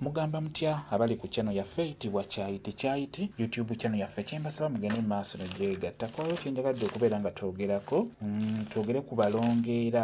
Mugamba mutya abali ku channel yaffe itibwa kyayi tikyayiti YouTube channel yaffe kyembasaba mugende mu maaso ne gyegatta kwayo kyenjagadde okubeera nga twogerako mm, twogere ku balongeera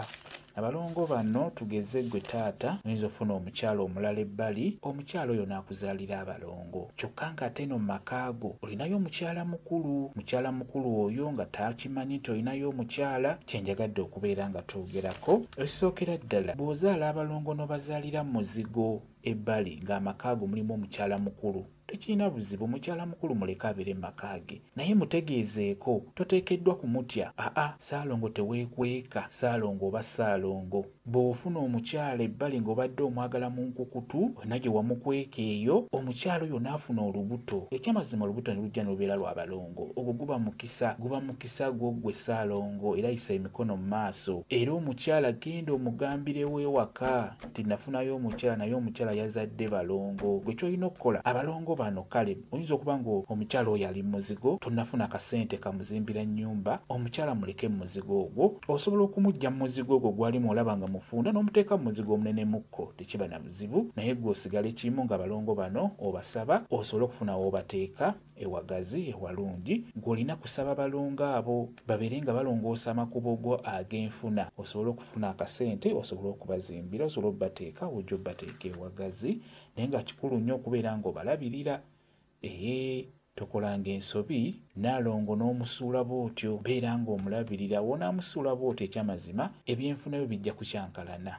abalongo bano tugeze gwe taata oyinza ofuna omukyalo omulala ebbali omukyalo oyo naakuzaalira abalongo kyokka nga ate no makaago Olinayo omukyala mukulu? Mukyala mukulu oyo nga takimanyi nti olinayo omukyala? Kye njagadde okubeera nga twogerako, ekisookera ddala bw'ozaala abalongo n'obazaalira mu muzigo ebbali ng'amaka ago mulimu omukyala mukulu tekirina buzibu mukyala mukulu muleke abeere maka ge naye mutegeezeeko toteekeddwa kumutya aa saalongo teweekweka saalongo oba saalongo Bw'ofuna omukyala ebbali ng'obadde omwagala mu nkukutu, wena gye wamukweka eyo, omukyala oyo n'afuna olubuto, eky'amazima olubuto ne lujja ne lubeera lwa balongo, ogwo guba mukisa, guba mukisa gwo ggwe Ssaalongo era yisa emikono mu maaso. Era omukyala genda omugambirewo ewaka nti nafunayo omukyala naye omukyala yazadde balongo. Ggwe ky'olina okukola, abalongo bano kale. Oyinza okuba nga omukyala oyo ali muzigo tonafuna kasente kamuzimbira nyumba omukyala muleke muzigo ogwo osobola okumujja muzigo ogwo gwalimu olaba nga mufunda nomuteeka muzigo omunenemu-ko tekiba na buzibu naye gwe osigala ekimu nga balongo bano obasaba osobole okufuna wobateeka ewagazi ewalungi gwe olina kusaba balongo abo babeere nga balongoosa amakubo go agenfuna osobole okufuna akasente osobole okubazimbira osobole obateeka wojja obateeka ewagazi naye nga kikulu nnyo okubeera ng'obalabirira ee tokolanga ensobi naalongo n'omusuula bw'otyo beera ng'omulabirira wonaamusuula bw'otyo ekyamazima ebyenfuna byo bijja kukyankalana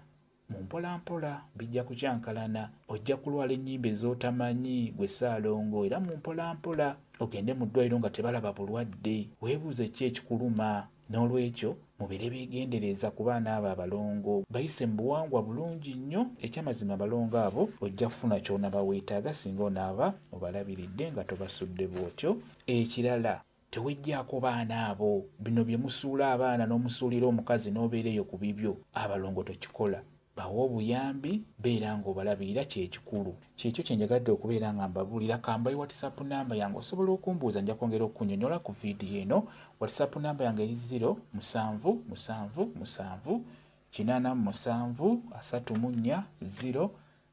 mu mpolampola bijja kukyankalana ojja kulwala ennyimba ez'otamanyi gwe saalongo era mu mpolampola ogende mu ddwaliro nga tebalaba bulwadde weebuuze ki ekikuluma N'olwekyo mubeere beegendereeza ku baana abo abalongo, bayise mu buwangwa bulungi nnyo. Eky'amazima abalongo abo ojja kufuna ky'onaaba weetaaga singa onaaba obalabiridde nga tobasudde bw'otyo. Ekirala teweggyaako baana abo. Bino bye musuula abaana n'omusuulira omukazi n'obeera eyo ku bibyo abalongo tokikola. Bawa obuyambi, beera nga obalabirira kyekikulu. Kyekyo kyenjagadde okubeera nga mbabuulira, kambawe whatsapp number yange osobola okumbuuza njakwongera okukunyonyola ku video eno. Whatsapp number yange eri zero musanvu musanvu musanvu kinaana mu musanvu asatu mu nnya zero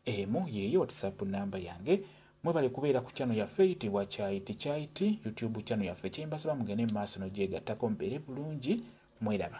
emu yeeyo whatsapp number yange. Mwebale kubeera ku channel yaffe eyitibwa Kyayiti Kyayiti YouTube channel yaffe. Kyembasaba mugende mu maaso n'ogyegattako mubeere bulungi. Mweraba.